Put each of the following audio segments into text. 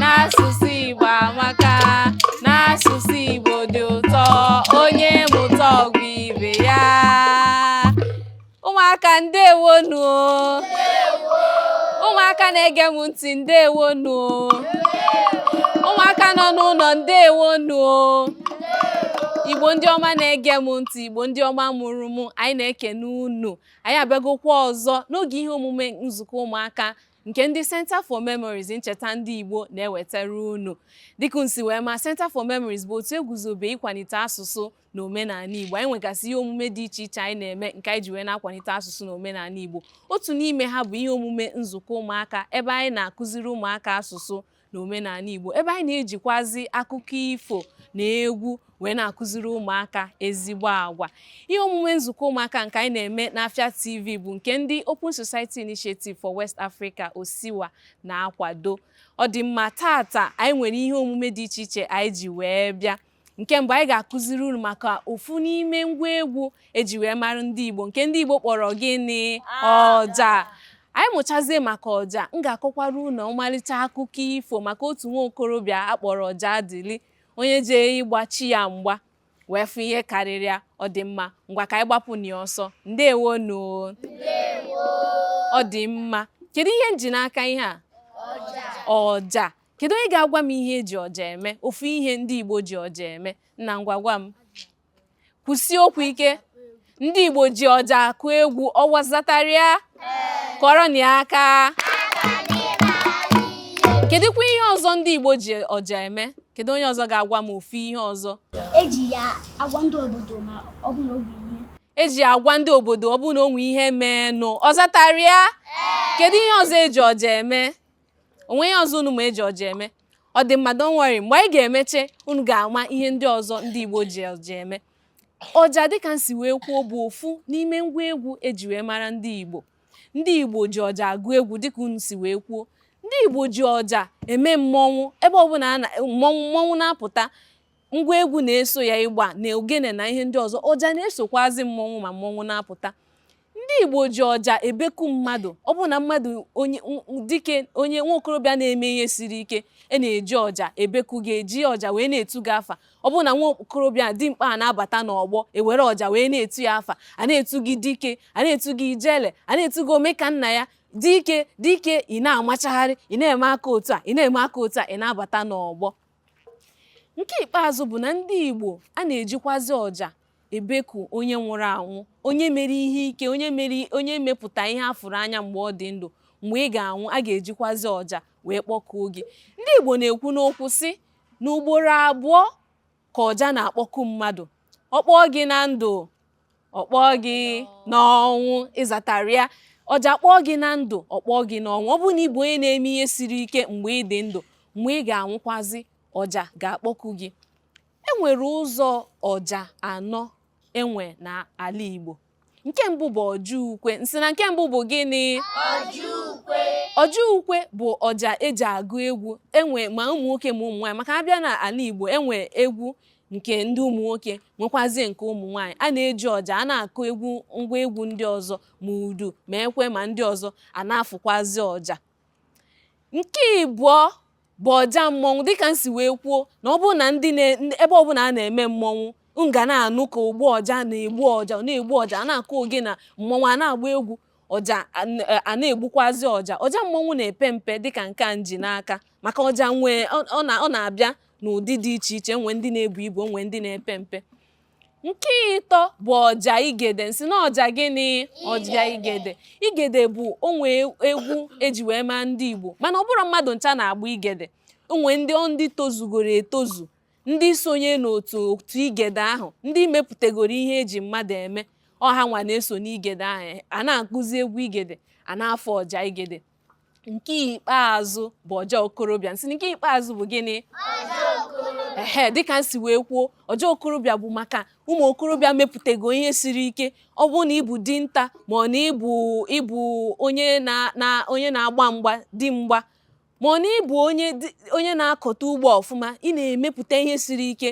n'asụsụ Igbo amaka n'asụsụ Igbo dị ụtọ onye mụta ọ gwa ibe ya ụmụaka ndewonu ụmụaka na-ege m ntị ndewonu ụmụaka nọ n'ụlọ ndewonu igbo ndị ọma na-ege m ntị igbo ndị ọma mụrụ m anyị na-ekene unu anyị abịagokwa ọzọ n'oge ihe omume nzukọ ụmụaka nke ndị Center for Memories ncheta ndị Igbo na-ewetara unu dịka unu si wee ma Center for Memories bụ otu eguzobe ịkwalite asụsụ na omenala Igbo anyị nwegasị ihe omume dị iche iche anyị na-eme nke anyị ji wee na-akwalite asụsụ na omenala Igbo otu n'ime ha bụ ihe omume nzukọ ụmụaka ebe anyị na-akụziri ụmụaka asụsụ na omenala Igbo ebe anyị na-ejikwazi akụkọ ifo na egwu wee na-akụziri ụmụaka ezigbo agwa ihe omume nzukọ ụmụaka nke anyị na-eme n'Afia TV bụ nke ndị Open Society Initiative for West Africa Osiwa na-akwado ọ dị mma tata anyị nwere ihe omume dị iche iche anyị ji wee bịa nke mbụ anyị ga-akụziri unu maka ofu n'ime ngwa egwu eji wee mara ndị Igbo nke ndị Igbo kpọrọ gịnị ọja anyị mụchazie maka ọja m ga-akọkwara unu ọmalịcha akụkọ ifo maka otu nwa okorobịa akpọrọ Ọjaadịlị onye jee ịgba chi ya mgba wee fụ ihe karịrị ya ọ dị mma ngwa ka anyị gbapụ na ya ọsọ ndewonu ọ dị mma kedu ihe m ji n'aka ihe a ọja Kedu onye ga-agwa m ihe eji ọja eme? Ofu ihe ndị Igbo ji ọja eme. Nna ngwa gwa m. Kwusie okwu ike. Ndị Igbo ji ọja akụ egwu. Ọwa ọ zatara ya. Kụọrọnụ ya aka. Kedụkwa ihe ọzọ ndị Igbo ji ọja eme? Kedu onye ọzọ ga-agwa m ofu ihe ọzọ? Eji ya agwa ndị obodo ma ọ bụ na o nwe ihe eji agwa ndị obodo ọ bụrụ na o nwe ihe mee nụ ọ zatara ya kedu ihe ọzọ eji ọja eme o nwe ihe ọzọ unu ma eji ọja eme ọ dị mma don't worry mgbe anyị ga-emeche unu ga-ama ihe ndị ọzọ ndị Igbo ji ọja eme ọja dịka m si wee kwuo bụ ofu n'ime ngwa egwu eji wee mara ndị Igbo ndị Igbo ji ọja agụ egwu dịka unu si wee kwuo ndị Igbo ji ọja eme mmọnwụ ebe ọbụla mmọnwụ na-apụta ngwa egwu na-eso ya igba na ogene na ihe ndị ọzọ ọja na-esokwazi mmọnwụ ma mmọnwụ na-apụta Ndị Igbo ji ọja ebeku mmadụ. Ọ bụrụ na mmadụ onye dike onye nwa okorobịa na-eme ihe siri ike a na-eji ọja ebeku gị eji ọja wee na-etu gị afa ọ bụrụ na nwa okorobịa dimkpa a na-abata n'ọgbọ ewere ọja wee na-etu ya afa a na-etu gị dike a na-etu gị ijele a na-etu gị ome ka nna ya dike dike ị na-amachagharị ị na-eme aka otu a ị na-eme aka otu a ị na-abata n'ọgbọ Nke ikpeazụ bụ na ndị Igbo a na-ejikwazị ọja ebeku onye nwụrụ anwụ, onye mere ihe ike, onye mere onye mepụta ihe a fụrụ anya mgbe ọ dị ndụ, mgbe ị ga-anwụ, a ga-ejikwazị ọja wee kpọkuo gị. Ndị Igbo na-ekwu n'okwu sị na ugboro abụọ ka ọja na-akpọku mmadụ. Ọ kpọọ gị na ndụ, ọ kpọọ gị n'ọnwụ ị zatara ya ọja kpọọ gị na ndụ ọ kpọọ gị n'ọnwụ ọ bụrụ na ị bụ onye na-eme ihe siri ike mgbe ị dị ndụ mgbe ị ga-anwụkwazi ọja ga-akpọku gị e nwere ụzọ ọja anọ e nwe n'ala Igbo nke mbụ bụ ọja ukwe m sị na nke mbụ bụ gịnị ọja ukwe bụ ọja eji agụ egwu enwe ma ụmụ nwoke ma ụmụ nwaanyị maka a bịa n'ala Igbo e nwe egwu nke ndị ụmụ nwoke nwekwazie nke ụmụ nwaanyị a na-eji ọja a na-akụ egwu ngwa egwu ndị ọzọ ma udu ma ekwe ma ndị ọzọ a na-afụkwazi ọja nke ịbụọ bụ ọja mmọnwụ dịka m si wee kwuo na ọ bụrụ na ndị ebe ọbụla a na-eme mmọnwụ ị ga na-anụ ka ogbu ọja na-egbu ọja na-egbu ọja a na-akụ ogene mmọnwụ a na-agba egwu ọja a na-egbukwazi ọja ọja mmọnwụ na-epe mpe dịka nke a m ji n'aka maka ọja nwee ọ na-abịa n'ụdị dị iche iche nwee ndị na-ebu ibu nwee ndị na-epe mpe nke ịtọ bụ ọja igede m sị na ọja gịnị ọja igede igede bụ o nwe egwu eji wee maa ndị Igbo mana ọ bụrọ mmadụ ncha na-agba igede o nwe ndị ọ ndị tozugoro etozu ndị sonye n'otu otu igede ahụ ndị mepụtagoro ihe eji mmadụ eme ọ ha nwa na-eso n'igede ahụ a na-akụzi egwu igede a na-afụ ọja igede nke ikpeazụ bụ ọja okorobịa m sị nke ikpeazụ bụ gịnị ehe dịka m si wee kwuo ọja okorobịa bụ maka ụmụ okorobịa mepụtago ihe siri ike ọ bụrụ na ị bụ dinta ma ọ na ị bụ ị bụ onye na na onye na-agba mgba di mgba ma ọ na ị bụ onye onye na-akọta ugbo ọfụma ị na-emepụta ihe siri ike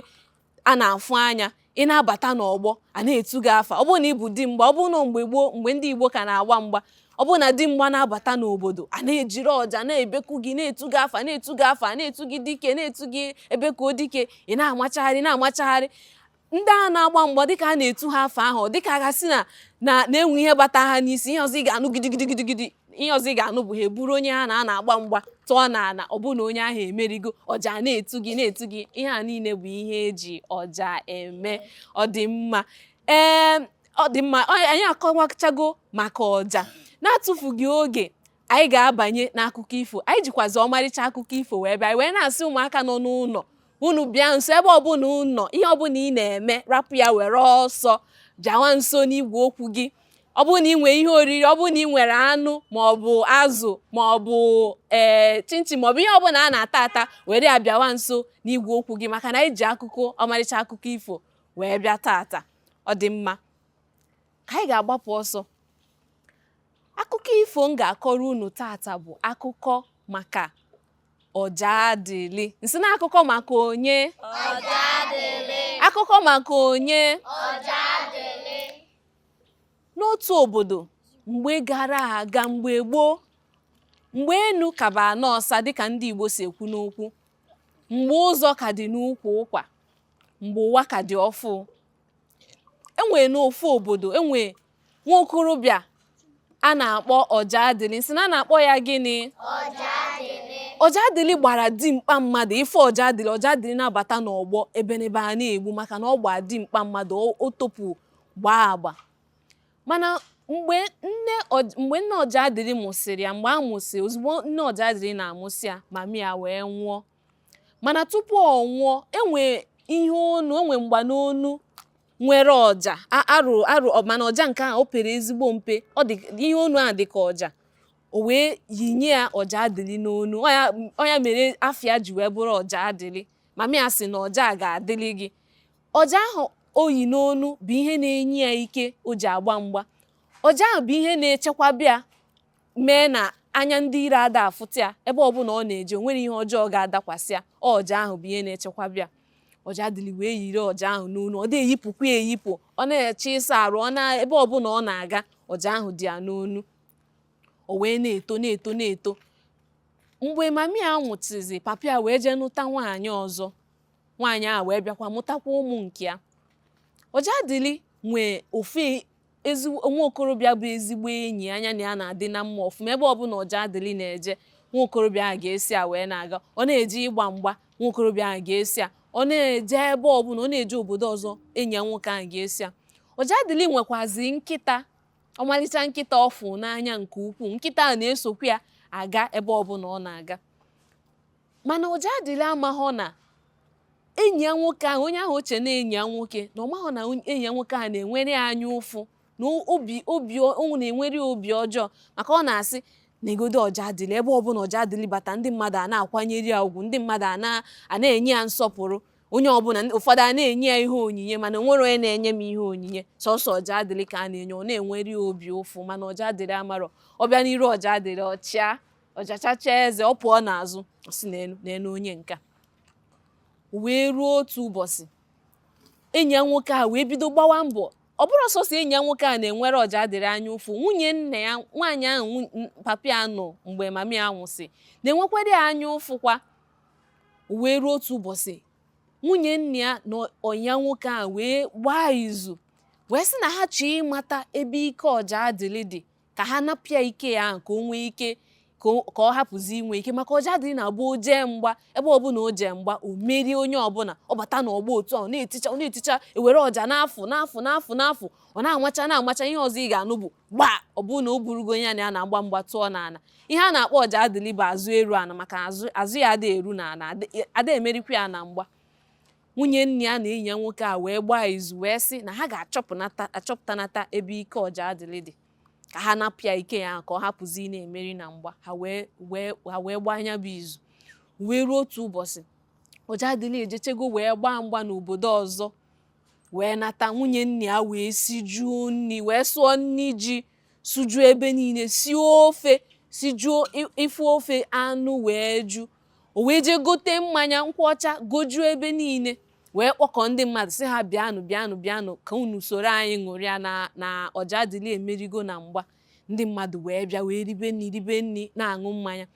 a na-afụ anya ị na-abata n'ọgbọ a na-etu gị afa ọ bụrụ na ị bụ di mgba ọ bụrụ na mgbe gboo mgbe ndị Igbo ka na-agba mgba ọ bụrụ na di mgba na-abata n'obodo a na-ejiri ọja na-ebeku gị na-etu gị afa na-etu gị afa na-etu gị dike na-etu gị ebekuo dike ị na-amachagharị na-amachagharị ndị a na-agba mgba dịka a na-etu ha afa ahụ dịka a ga-asị na na na e nwe ihe bata ha n'isi ihe ọzọ ị ga-anụ gidigidigidi ihe ọzọ ị ga-anụ bụ ha eburu onye ha na ya na-agba mgba tụọ n'ala ọ bụrụ na onye ahụ emerigo ọja na-etu gị na-etu gị ihe a niile bụ ihe eji ọja eme ọ dị mma ee ọ dị mma anyị akọwachago maka ọja na-atụfughị oge anyị ga-abanye n'akụkọ ifo anyị jikwazi ọmarịcha akụkọ ifo wee bịa wee na-asị ụmụaka nọ n'ụlọ unu bịa nso ebe ọbụla ị nọ ihe ọbụla ị na-eme rapụ ya were ọsọ bịawa nso n'igwe okwu gị ọ bụrụ na ị nwere ihe oriri ọ bụrụ na ị nwere anụ ma ọ bụ azụ ma ọ bụ ee eh, chinchin ma ọ bụ ihe ọbụla a na-ata ata were ya bịawa nso n'igwe okwu gị maka na anyị ji akụkọ ọmarịcha akụkọ ifo wee bịa tata ọ dị mma ka anyị ga-agbapụ ọsọ Akụkọ ifo m ga-akọrọ unu tata bụ akụkọ maka Ọjadịlị. M sị na akụkọ maka onye? Ọjadịlị. Akụkọ maka onye? Ọjadịlị. N'otu obodo mgbe gara aga mgbe gboo mgbe enu ka bụ ana ọsa dịka ndị Igbo si ekwu n'okwu mgbe ụzọ ka dị n'ukwu ụkwa mgbe ụwa ka dị ọfụ enwere n'ofu obodo enwere nwa okorobịa a na-akpọ Ọjadịlị m sị na a na-akpọ ya gịnị Ọjadịlị gbara dimkpa mmadụ ife Ọjadịlị Ọjadịlị na-abata n'ọgbọ ebenebe a na-egbu maka na ọ gbaa dimkpa mmadụ o- o topu gbaa agba mana mgbe nne Ọj- mgbe nne Ọjadịlị mụsịrị ya mgbe a mụsị ozugbo nne Ọjadịlị na-amụsị ya mami ya wee nwụọ mana tupu ọ nwụọ enwe ihe onu enwe mgba n'onu nwere ọja a- arụ arụ ọ- mana ọja nke a o pere ezigbo mpe ọ dị ihe onu a dị ka ọja o wee yinye ya Ọjadịlị n'onu Ọ ya- ọ ya mere afa ya ji wee bụrụ Ọjadịlị mami ya sị na ọja a ga-adịlị gị ọja ahụ o yi n'onu bụ ihe na-enye ya ike o ji agba mgba ọja ahụ bụ ihe na-echekwaba ya mee na anya ndị iro ada afụta ya ebe ọbụla ọ na-eje o nwerọ ihe ọjọọ ga-adakwasị ya ọja ahụ bụ ihe na-echekwaba ya Ọjadịlị wee yiri ọja ahụ n'onu ọ na-eyipụkwa ya eyipụ ọ na-eje ịsa arụ ọ na ebe ọbụla ọ na-aga ọja ahụ dị ya n'onu o wee na-eto na-eto na-eto mgbe mami ya nwụsịzị papa ya wee jee nụta nwaanyị ọzọ nwaanyị a wee bịakwa mụtakwa ụmụ nke ya Ọjadịlị nwee ofu ezi nwa okorobịa bụ ezigbo enyi ya ya na ya na-adị na mma ọfụma ebe ọbụla Ọjadịlị na-eje nwa okorobịa ahụ ga-eso ya wee na-aga ọ na-eje ịgba mgba nwa okorobịa ahụ ga-eso ya ọ na-eje ebe ọbụla ọ na-eje obodo ọzọ enyi ya nwoke ahụ ga-eso ya Ọjadịlị nwekwazi nkịta ọmalịcha nkịta ọ fụ n'anya nke ukwuu nkịta ahụ na-esokwa ya aga ebe ọbụla ọ na-aga mana Ojadili amaghọ na enyi ya nwoke ahụ onye ahụ o che na enyi ya nwoke na ọ maghọ na onye- enyi ya nwoke ahụ na-enwere ya anya ụfụ na obi obi ọ na-enwere ya obi ọjọọ maka ọ na-asị negodo Ojadili ebe ọbụla Ojadili bata ndị mmadụ a na-akwanyere ya ugwu ndị mmadụ a na- a na-enye ya nsọpụrụ onye ọbụla ụfọdụ a na-enye ya ihe onyinye mana o nwerọ onye na-enye m ihe onyinye sọsọ Ojadili ka a na-enye ọ na-enwere ya obi ụfụ mana Ojadili amarọ ọ bịa n'iru Ojadili ọ chịa ọ jachacha eze ọ pụọ n'azụ ọ sị neenụ neenụ onye nke a O wee ruo otu ụbọchị enyi ya nwoke a wee bido gbawa mbọ ọ bụrọ sọsọ enyi ya nwoke a na-enwere Ojadili anya ụfụ nwunye nna ya nwaanyị ahụ nwu- n- papa ya nụ mgbe mama ya nwụsị na-enwekwara ya anya ụfụ kwa O wee ruo otu ụbọchị nwunye nna ya na enyi ya nwoke a wee gbaa izu wee sị na ha chọọ ịmata ebe ike Ojadili dị ka ha napụ ya ike ya ahụ ka o nwee ike ka ọ- ka ọ hapụzi inwe ike maka Ojadili na-abụ o jee mgba ebe ọbụla o jee mgba o merie onye ọbụla ọ bata n'ọgbọ otu ahụ na-eticha ọ na-eticha e were ọja na-afụ na-afụ na-afụ na-afụ ọ na-amacha na-amacha ihe ọzọ ị ga-anụ bụ gba ọ bụrụ na o burugo onye a na ya na-agba mgba tụọ n'ala ihe a na-akpọ Ojadili bụ azụ eru ala maka azụ azụ ya ada eru n'ala ada- ada emerikwa ya na mgba Nwunye nna ya na enyi ya nwoke a wee gbaa izu wee sị na ha ga-achọpụnata achọpụtanata ebe ike Ojadili dị ka ha napụ ya ike ya ka ọ hapụzi ị na-emeri na mgba ha wee wee ha wee gbaa nya bụ izu wee ruo otu ụbọchị Ojadili ejechego wee gbaa mgba n'obodo ọzọ wee nata nwunye nna ya wee sijuo nri wee sụọ nri ji sụjuo ebe niile sie ofe sijuo ife ofe anụ wee ju o wee jee gote mmanya nkwụ ọcha gojuo ebe niile wee kpọkọ ndị mmadụ sị ha bịanụ bịanụ bịanụ ka unu soro anyị ṅụrịa na na Ojadili emerigo na mgba ndị mmadụ wee bịa wee ribe nri ribe nri na-aṅụ mmanya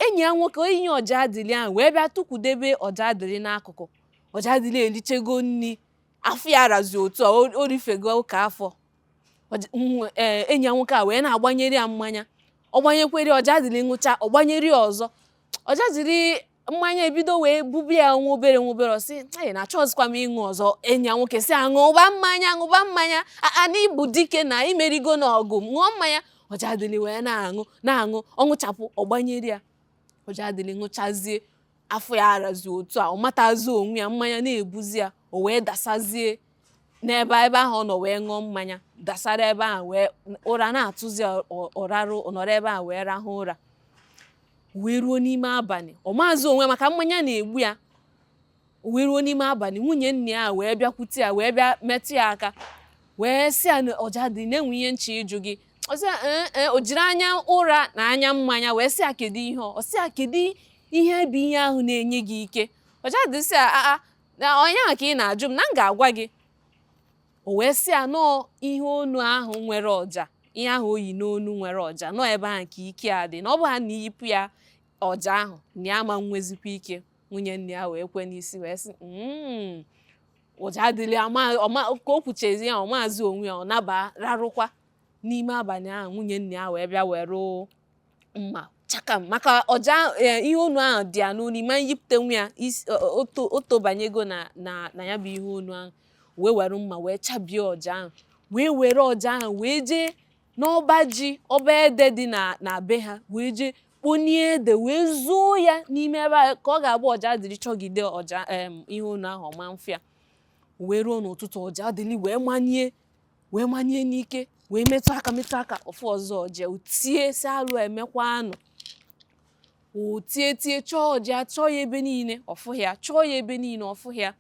enyi ya nwoke enyi Ojadili ahụ wee bịa tukwudebe Ojadili n'akụkụ Ojadili erichego nri afọ ya razi otu a o rifego ụka afọ e, enyi ya nwoke a wee na-agbanyere ya mmanya ọ gbanyekwere Ojadili ṅụcha ọ gbanyere ya ọzọ Ojadili mmanya ebido wee bube ya nwa obere nwa obere ọ sị enyi ya na achọzikwa m ịṅụ ọzọ enyi ya nwoke sị ya ṅụba mmanya ṅụba mmanya a na ị bụ dike na i merigo na ọgụ ṅụọ mmanya Ojadili wee na-aṅụ na-aṅụ ọ ṅụchapụ ọ gbanyere ya Ojadili ṅụchazie afọ ya arazi otu a ọ matazi onwe ya mmanya na-ebuzi ya o wee dasazie n'ebe a ebe ahụ ọ nọ wee ṅụọ mmanya dasara ebe ahụ wee ụra na-atụzi ya, ọ- ọ rarụ ọ nọrọ ebe ahụ wee rahụ ụra wee ruo n'ime abalị ọ maazị onwe ya maka mmanya na-egbu ya o wee ruo n'ime abalị nwunye nna ya wee bịakwute ya wee bịa metụ ya aka wee sị ya na Ojadili na e nwe ihe m chọ ịjụ gị ọ sị ya ee ee o jiri anya ụra na anya mmanya wee sị ya kedu ihe ọ ọ sị ya kedu ihe bụ ihe ahụ na-enye gị ike Ojadili sị ya aa na ọ ihe ahụ ka ị na-ajụ m na m ga-agwa gị o wee sị ya na ọ ihe onu ahụ nwere ọja ihe ahụ o yi n'onu nwere ọja na ọ ebe ahụ ka ike ya dị na ọ bụ ha na i yipụ ya ọja ahụ na ya ma nwezikwa ike nwunye nna ya wee kwe n'isi wee sị "Mm, Ojadili ya ma- ọ ma- ka o kwuchazi ya ọ maazị onwe ya ọ naba rarụkwa n'ime abalị ahụ nwunye nna ya wee bịa were mma chakam maka ọja eh, ihe onu ahụ dị ya n'onu ma nyipụtanwu ya is- o- o- oto o tobanyego na na na ya bụ ihe onu ahụ wee were mma wee chabie ọja ahụ wee were ọja ahụ wee jee n'ọba ji ọba ede dị na na be ha wee jee kponie ede wee zoo ya n'ime ebe ahụ ka ọ ga-abụ Ojadili chọgide ọja em, ihe onu ahụ ọ ma mfụ ya wee ruo n'ụtụtụ Ojadili wee manie wee manie n'ike wee metụ aka metụ aka ọ fụọzi ọja o tie sị alụ emekwanụ o tie tie chọọ ọja chọọ ya ebe niile ọ fụhị ya chọọ ya ebe niile ọ fụhị ya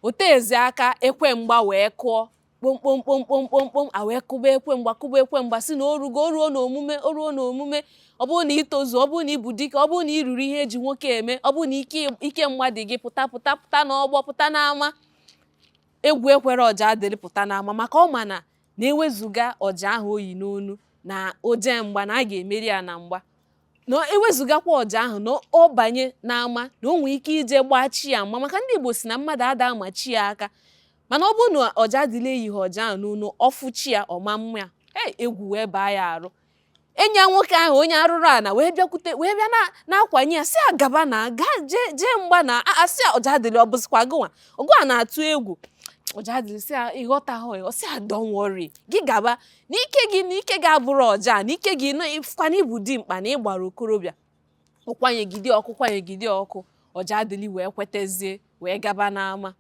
o teezi aka ekwe mgba wee kụọ kpomkpomkpomkpomkpomkpom a wee kụba ekwe mgba kụba ekwe mgba sị na o rugo o ruo n'omume o ruo n'omume ọ bụrụ na i tozu ọ bụrụ na ị bụ dike ọ bụrụ na i ruru ihe e ji nwoke eme ọ bụrụ na ike ike mgba dị gị pụta pụta pụta n'ọgbọ pụta n'ama egwu ekwerọ Ojadili pụta n'ama maka ọ ma na na ewezuga ọja ahụ o yi n'onu na o je mgba na a ga-emeri ya na mgba na ewezugakwa ọja ahụ na ọ banye n'ama na o nwee ike ije gbaa chi ya mma maka ndị Igbo sị na mmadụ ada ama chi ya aka mana ọ bụrụ na Ojadili eyighị ọja ahụ n'onu ọ fụ chi ya ọ ma mma ya egwu wee baa ya arụ enyi ya nwoke ahụ onye arụrụ ala wee bịakwute wee bịa na- na-akwanye ya sị ya gaba na gaa jee jee mgba na a- asị ya Ojadili ọ bụzikwa gụnwa ọ gụnwa na-atụ egwu Ojadili sị ya ị ghọtaghị ya ọ sị ya don't worry gị gaba na ike gị na ike gị abụrọ ọja na ike gị na ị fụkwa na ị bụ dimkpa na ị gbara okorobịa ọ kwanyegide ọkụ kwanyegide ọkụ Ojadili wee kwetezie wee gaba n'ama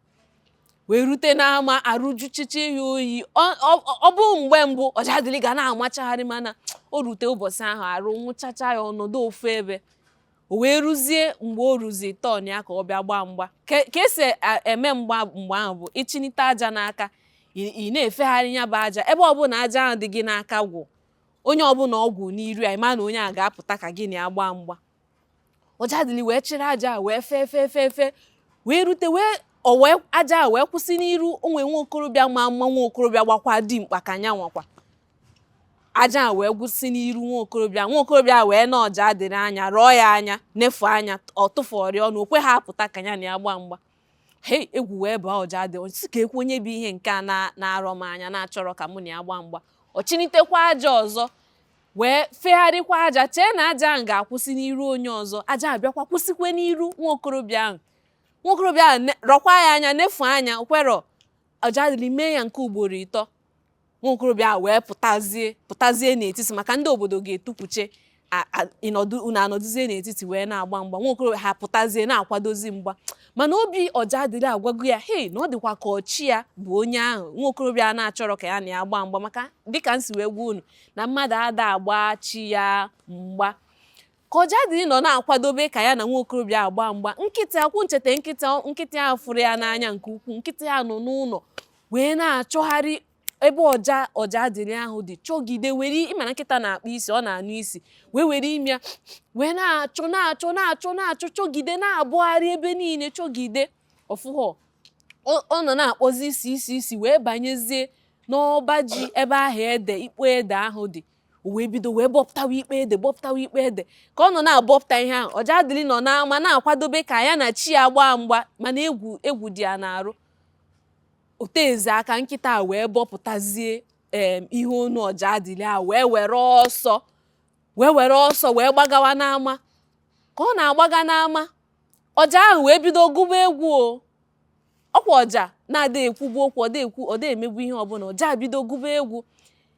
wee rute n'ama arụ juchicha ya oyi ọ bụ mgbe mbụ Ojadili ga na-amachagharị mana o rute ụbọchị ahụ arụ nwụchacha ya ọ nọdụ ofu ebe o wee ruzie mgbe o ruzi turn ya ka ọ bịa gbaa mgba ka e si e, eme mgba mgbe ahụ bụ ịchịnite aja n'aka ị na-efegharị ya bụ aja ebe ọbụla aja ahụ dị gị n'aka gwụ onye ọbụla ọ kwụ n'iru ya ị ma na onye a ga-apụta ka gị na ya gbaa mgba ọjadịlị wee chịrị aja a wee fee fee fee fee wee rute wee ọwee aja a wee kwụsị n'iru onwe nwa okorobịa ma mma nwa okorobịa gbakwa dimkpa ka nya nwakwa aja a wee kwụsị n'iru nwa okorobịa nwa okorobịa wee nee ọjadịlị anya rọọ ya anya nefu anya ọ tụfụrọ ọnụ o kweha apụta ka ya na ya gbaa mgba hei egwu wee baa ọjadịlị sị kekwụ onye bụ ihe nke a na-arọ m anya na-achọrọ ka mụ na ya gbaa mgba ọ chịnitekwa aja ọzọ wee fegharịkwa aja chee na aja ahụ ga-akwụsị n'iru onye ọzọ aja abịakwa kwụsịkwe n'iru nwa okorobịa ahụ nwa okorobịa ahụ rọkwa ya anya nefu anya o kwerọ ọjadịlị mee ya nke ugboro ịtọ nwa okorobịa a wee pụtazie pụtazie n'etiti maka ndị obodo ga-etukwuche ịnọdụ unu anọdụzie n'etiti wee na-agba mgba nwa okorobịa ahụ pụtazie na-akwadozi mgba mana obi ọjadịlị agwago ya hei na ọ dịkwa ka ọ chi ya bụ onye ahụ nwa okorobịa a na-achọrọ ka ya na ya gbaa mgba maka dịka m si wee gwa unu na mmadụ ada agba chi ya mgba Ka Ọjadịlị nọ na-akwadobe ka ya na nwa okorobịa ahụ gbaa mgba, nkịta ọkwa unu chete nkịta ọ- nkịta ahụ fụrụ ya n'anya nke ukwuu. Nkịta ahụ nọ n'ụlọ wee na-achọgharị ebe ọja Ọjadịlị ahụ dị chọgide were ị ma na nkịta na-akpọ isi ọ na-anụ isi wee were imi ya wee na-achọ na-achọ na-achọ na-achọ chọgide na-abọgharị ebe niile chọgide ọ fụghọ ọ ọ nọ na-akpọzi isi isi isi wee banyezie n'ọba ji ebe ahụ ede ikpo ede ahụ dị o wee bido wee bọpụtawa ikpo ede bọpụtawa ikpo ede ka ọ nọ na-abọpụta ihe ahụ ọjadịlị nọ n'ama na-akwadobe ka ya na chi ya gbaa mgba mana egwu egwu dị ya n'arụ o teezi aka nkịta a wee bọpụtazie em ihe onu ọjadịlị a wee were ọsọ wee were ọsọ wee gbagawa n'ama ka ọ na-agbaga n'ama ọja ahụ wee bido gụba egwu o ọkwa ọja na ada ekwubu okwu ọ da ekwu ọ da emebu ihe ọbụla ọja bido gụba egwu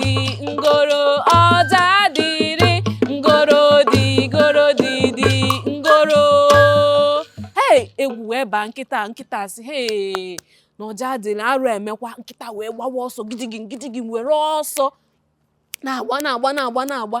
dị ngoro ọjadịlị ngoro dị ngoro dị dị ngoro hei egwu wee baa nkịta nkịta sị hei na ọjadịlị arụ emekwa nkịta wee gbawa ọsọ gidigim gidigim were ọsọ na-agba na-agba na-agba na-agba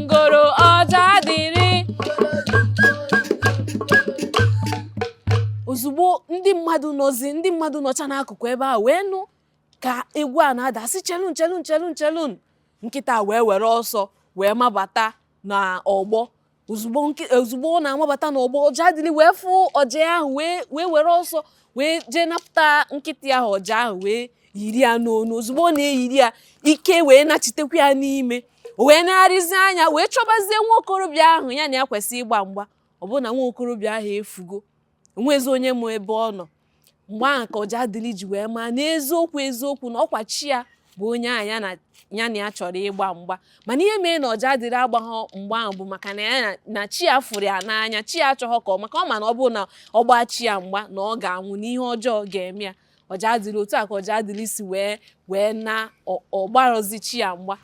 ngoro ọjadịlị ozugbo ndị mmadụ nọzi ndị mmadụ nọcha n'akụkụ ebe a wee nụ ka egwu a na-ada sị chelụnụ chelụnụ chelụnụ chelụnụ nkịta wee were ọsọ wee mabata n'ọgbọ ozugbo ọ na-amabata n'ọgbọ ọjadịlị wee fụ ọja ahụ wee were ọsọ wee jee napụta nkịta ahụ ọja ahụ wee yiri ya n'onu ozugbo ọ na-eyiri ya ike wee nachitekwa ya n'ime o wee negharịzi anya wee chọbazie nwa okorobịa ahụ ya na ya kwesịrị ịgba mgba ọ bụrụ na nwa okorobịa ahụ efugo enwezi onye ma ebe ọ nọ mgbe ahụ ka ọjadịlị ji wee maa n'eziokwu eziokwu na ọkwa chi ya bụ onye ahụ ya na ya na ya chọrọ ịgba mgba mana ihe mere na Ojadili agbaghọ mgba ahụ bụ maka na ya na chi ya fụrụ ya n'anya chi ya achọghọ ka ọ maka ọ ma na ọ bụrụ na ọ gbaa chi ya mgba na ọ ga-anwụ na ihe ọjọọ ga-eme ya Ojadili otu a ka Ojadili si wee wee na ọ gbarọzi chi ya mgba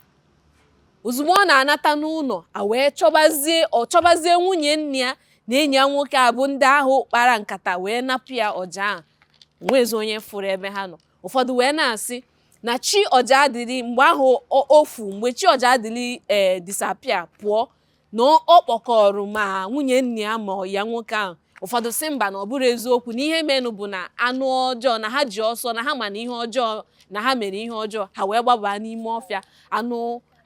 ozugbo ọ na-anata n'ụlọ a wee chọbazie ọ chọbazie nwunye nna ya na enyi ya nwoke a bụ ndị ahụ kpara nkata wee napụ ya ọja ahụ o nwezi onye fụrụ ebe ha nọ ụfọdụ wee na-asị na chi Ojadili mgbe ahụ ofu mgbe chi Ojadili ee eh, disappear pụọ na ọ kpọkọrọ ma nwunye nna ya ma ya nwoke ahụ ụfọdụ sị mba na ọ bụrọ eziokwu na ihe menụ bụ na anụ ọjọọ na ha ji ọsọ na ha ma na ihe ọjọọ na ha mere ihe ọjọọ ha wee gbabaa n'ime ọfịa anụ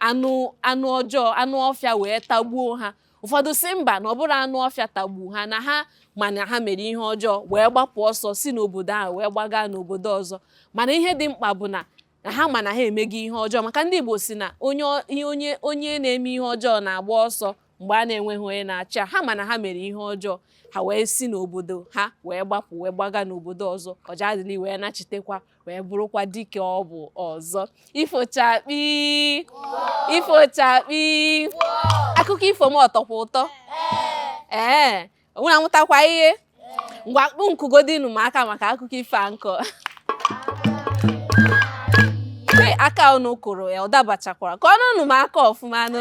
anụ anụ ọjọọ anụ ọfịa wee tagbuo ha ụfọdụ sị mba na ọ bụrọ anụ ọfịa tagbu ha na ha ma na ha mere ihe ọjọọ wee gbapụ ọsọ si n'obodo ahụ wee gbaga n'obodo ọzọ mana ihe dị mkpa bụ na na ha ma na ha emego ihe ọjọọ maka ndị Igbo sị na onye onye onye na-eme ihe ọjọọ na-agba ọsọ mgbe a na-enweghị onye na-achụ ya ha ma na ha mere ihe ọjọọ ha wee si n'obodo ha wee gbapụ wee gbaga n'obodo ọzọ Ojadili wee nachitekwa wee bụrụkwa dike ọ bụ ọzọ ifo chakpii ifo chakpii akụkọ ifo m ọ tọkwa ụtọ ee unu amụtakwa ihe ngwa kụ kụgodinụ m aka maka akụkọ ifo a m kọ aka unu kụrụ ya ọ dabachakwara kụọnụnụ m aka ọfụma nụ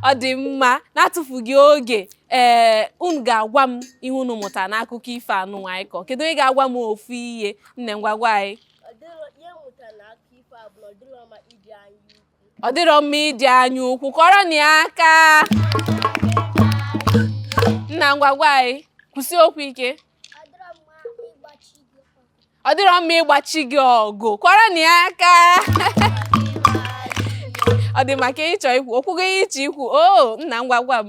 ọ dị mma na-atụfughị oge ee unu ga-agwa m ihe unu mụtara n'akụkọ ifo anụ anyị kọ kedu onye ga-agwa m ofu ihe nne ngwa gwa anyị ọ dịrọ mma ịdị anya ukwu kụọrọnụ ya aka nna ngwa gwa anyị kwusie okwu ike ọ dịrọ mma ịgba chi gị ọgụ kụọrọnụ ya aka ọ dị mma ka ị chọ ikwu o kwugo ihe ị chọ ikwu o oh, nna ngwa gwa m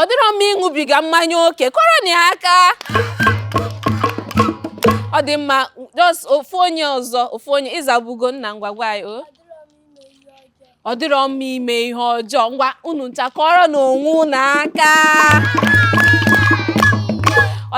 ọ dịrọ mma ịṅụbiga mmanya oke kụọrọnụ ya aka ọ dị mma just ofu onye ọzọ ofu onye ị zabugo nna ngwa gwa anyị o ọ dịrọ mma ime ihe ọjọọ ngwa unu ncha kụọrọnụ onwe unu aka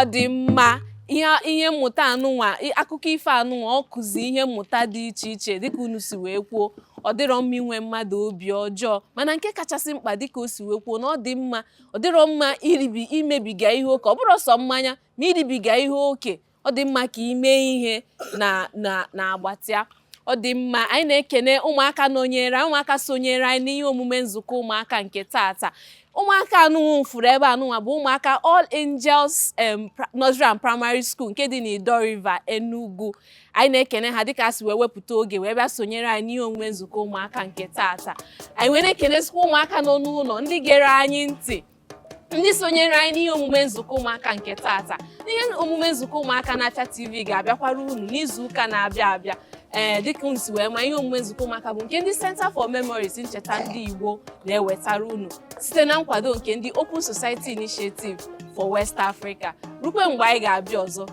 ọ dị mma ihe ihe mmụta anụnwa akụkọ ifo anụnwa ọ kụzi ihe mmụta dị iche iche dịka unu si wee kwuo ọ dịrọ mma inwe mmadụ obi ọjọọ mana nke kachasị mkpa dịka o si wee kwuo na ọ dị mma ọ dịrọ mma iribi imebiga ihe oke ọ bụrọ sọ mmanya ma iribiga ihe oke ọ dị mma ka i mee ihe na na na agbatịa ọ dị mma anyị na-ekene ụmụaka nọnyere anyị ụmụaka sonyere anyị n'ihe omume nzukọ ụmụaka nke tata ụmụaka anụnwa m fụrụ ebe anụnwa bụ ụmụaka All Angels em, pra- Nursery and Primary School nke dị n'Idaw River Enugu anyị na-ekene ha dịka ha si wee wepụta oge wee bịa sonyere anyị n'ihe omume nzukọ ụmụaka nke taata anyị wee na-ekenesikwa ụmụaka nọ n'ụlọ ndị gere anyị ntị ndị sonyere anyị n'ihe omume nzukọ ụmụaka nke taata n'ihe omume nzukọ ụmụaka na Afia TV ga-abịakwara unu n'izu ụka na-abịa abịa ee eh, dịka unu si wee ma ihe omume nzukọ ụmụaka bụ nke ndị Center for Memories ncheta ndị Igbo na-ewetara unu site na nkwado nke ndị Open Society Initiative for West Africa rukwe mgbe anyị ga-abịa ọzọ